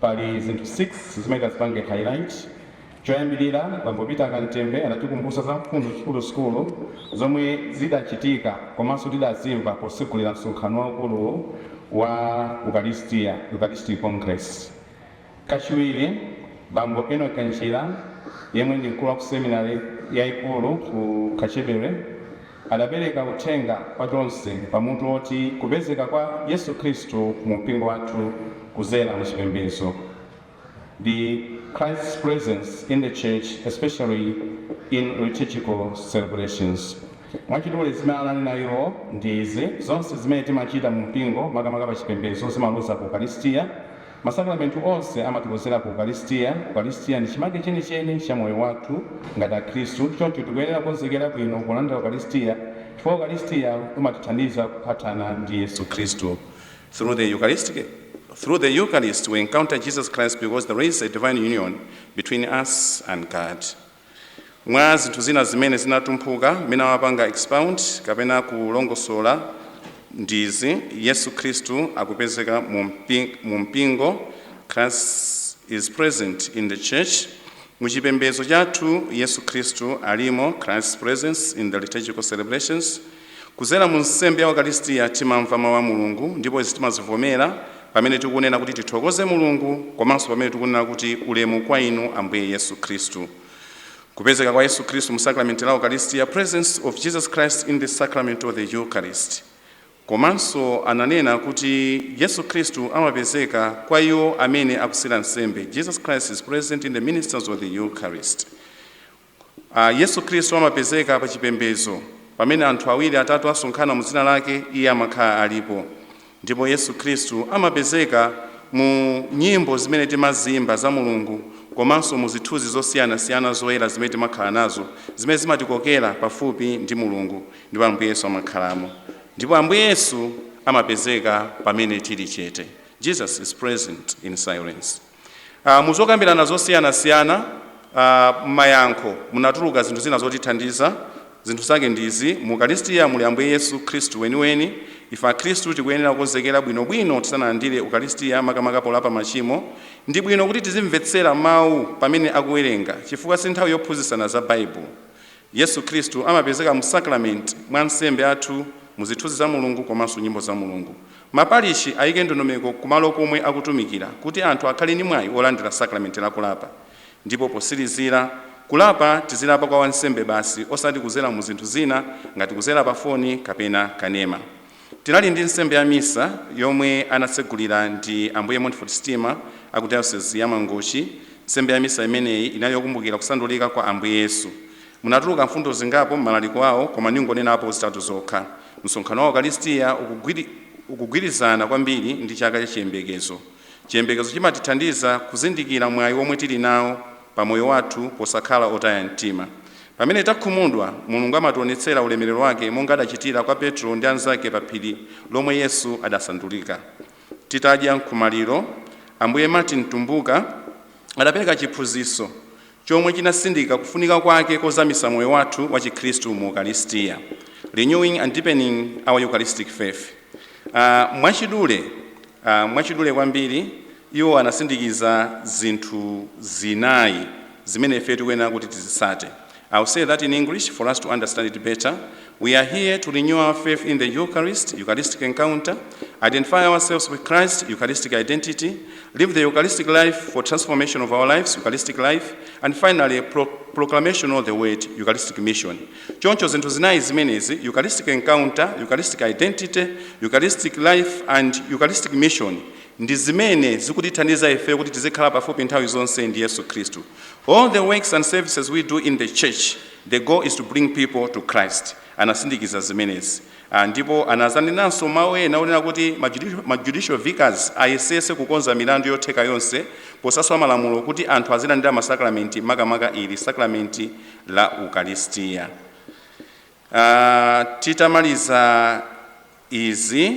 pali zinthu 6 zimene tizipange highlight choyambirira bambo Peter Kantembe anatikumbutsa za mfundo zikuluzikulu zomwe zidachitika komanso tidazimva posegulira msonkhano waukulu wa eucharistic congress Kachiwiri, Bambo Enock Njira, yemwe ndi mkulu wa ku seminale yaikulu ku Kachebere, adapereka uthenga kwa tonse pa mutu woti Kupezeka kwa Yesu Khristu mu Mpingo Wathu Kuzera mu Chipembedzo, The Christ's Presence in the Church Especially in Liturgical Celebrations. Mwachidule zimene ananena iwo ndi izi, Zonse zimene timachita mu mpingo, makamaka pa chipembedzo, zimaloza ku Ukalistia. Masakramenti onse amatikonzera ku Ukalistia. Ukalistia ndi chimake chenicheni cha moyo wathu ngati Akhristu. Choncho tikuyenera kukonzekera bwino polandira Ukalistia chifukwa Ukalistia umatithandiza kuphathana ndi Yesu Khristu. Through the Eucharist we encounter Jesus Christ because there is a divine union between us and God. Mwa zinthu zina zimene zinatumphuka mmene amapanga expound kapena kulongosola ndi izi, Yesu Khristu akupezeka mu mpi- mu mpingo, Christ is present in the church. Mu chipembedzo chathu Yesu Khristu alimo, Christ's presence in the liturgical celebrations. Kudzera mu nsembe ya Ukalistia timamva mau a Mulungu ndipo izi timazivomera pamene tikunena kuti tithokoze Mulungu komanso pamene tikunena kuti ulemu kwa inu Ambuye Yesu Kristu. Kupezeka kwa Yesu Kristu mu Sakramenti la Ukalistia presence of Jesus Christ in the Sacrament of the Eucharist Komanso ananena kuti Yesu Kristu amapezeka kwa iwo amene akutsira nsembe Jesus Christ is present in the ministers of the Eucharist. Yesu Khristu amapezeka pa chipembedzo. Pamene anthu awiri atatu asonkhana mu dzina lake, iye amakhala alipo. Ndipo Yesu Khristu amapezeka mu nyimbo zimene timaziimba za Mulungu komanso mu zithunzi zosiyanasiyana zoyera zimene timakhala nazo zimene zimatikokera pafupi ndi Mulungu ndipo Ambuye Yesu amakhalamo. Ndipo Ambuye Yesu amapezeka pamene tili chete. Jesus is present in silence. Uh, muzokambirana zosiyanasiyana m'mayankho munatuluka zinthu zina zotithandiza zinthu zake ndi izi mu ukalisitiya muli ambuye yesu khristu weniweni ife akhristu tikuyenera kukonzekera bwinobwino tisanalandire ukalisitiya makamaka polapa machimo ndi bwino kuti tizimvetsera mawu pamene akuwerenga chifukwa si nthawi yophunzitsana za baibulo yesu khristu amapezeka mu sakramenti mwa ansembe athu mu zithunzi za mulungu komanso nyimbo za mulungu Ma parishi ayike ndondomeko ku malo komwe akutumikira kuti anthu akhale ndi mwayi wolandira sakramenti la kulapa. Ndipo potsirizira, kulapa tidzilapa kwa wansembe basi osati kudzera mu zinthu zina ngati kudzera pa foni kapena kanema. Tinali ndi nsembe ya misa yomwe anatsogolera ndi Ambuye Montfort Stima a ku Diocese ya Mangochi. Nsembe ya misa imeneyi inali yokumbukira kusandulika kwa Ambuye Yesu. Munatuluka mfundo zingapo m'malaliko awo koma ndingonenapo zitatu zokha, Msonkhano wa Ukalistia ukugwirizana kwambiri ndi Chaka cha Chiyembekezo, chiyembekezo chimatithandiza kuzindikira mwayi womwe tili nawo pa moyo wathu posakhala otaya mtima. Pamene takhumudwa, Mulungu amationetsera ulemerero wake monga adachitira kwa Petro ndi anzake pa phiri lomwe Yesu adasandulika. Titadya nkhomaliro, Ambuye Martin Mtumbuka adapereka chiphunzitso. chomwe chinatsindika kufunika kwake kozamitsa moyo wathu wa chikhristu mu Ukalistia, Renewing and Deepening Our Eucharistic Faith. Uh, mwachidule uh, mwachidule kwambiri iwo anatsindikiza zinthu zinayi zimene ife tikuyenera kuti tizitsate. I'll say that in English for us to understand it better. We are here to renew our faith in the Eucharist, Eucharistic encounter, identify ourselves with Christ, Eucharistic identity, live the Eucharistic life for transformation of our lives, Eucharistic life, and finally, pro proclamation of the word, Eucharistic mission. Choncho zinthu zinayi zimenezi, Eucharistic encounter, Eucharistic identity, Eucharistic life, and Eucharistic mission ndi zimene zikutithandiza ife kuti tizikhala pafupi nthawi zonse ndi yesu khristu all the works and services we do in the church The goal is to bring people to Christ. Anatsindikiza zimenezi ah, ndipo anadzanenanso mawu ena onena kuti ma judicial vicars ayesese kukonza milandu yotheka yonse posaswa malamulo kuti anthu azilandira masakramenti makamaka ili sakramenti la Ukaristiya. Ah, titamaliza izi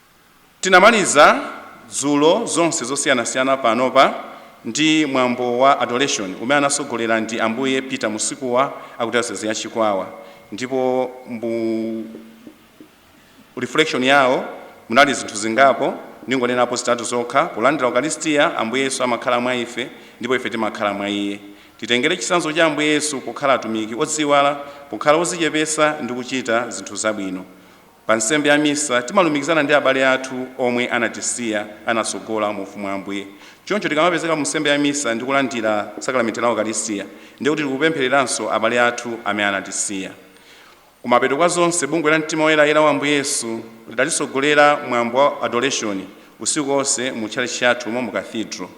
Tinamaliza dzulo zonse zosiyanasiyana panopa ndi mwambo wa Adoration umene anatsogolera ndi Ambuye Peter Musikuwa aku diocese ya Chikwawa ndipo mu reflection yawo munali zinthu zingapo ndingonenapo zitatu zokha, polandira Ukalistia, Ambuye Yesu amakhala mwa ife ndipo ife timakhala mwa Iye. Titengere chitsanzo cha Ambuye Yesu pokhala atumiki odziyiwala, pokhala odzichepetsa ndi kuchita zinthu zabwino. Pa Nsembe ya Misa, timalumikizana ndi abale athu omwe anatisiya, anatsogola mu Ufumu wa Ambuye. Choncho tikamapezeka mu Nsembe ya Misa ndi kulandira Sakramenti la Ukaristia, ndiye kuti tikupemphereranso abale athu amene anatisiya. Kumapeto kwa zonse, Bungwe la Mtima Woyerayera wa Ambuye Yesu lidatitsogolera mwambo wa Adoration usiku onse mu tchalitchi chathu umo mu Cathedral.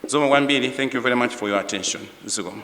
Zikomo kwambiri Thank you very much for your attention. Zikomo.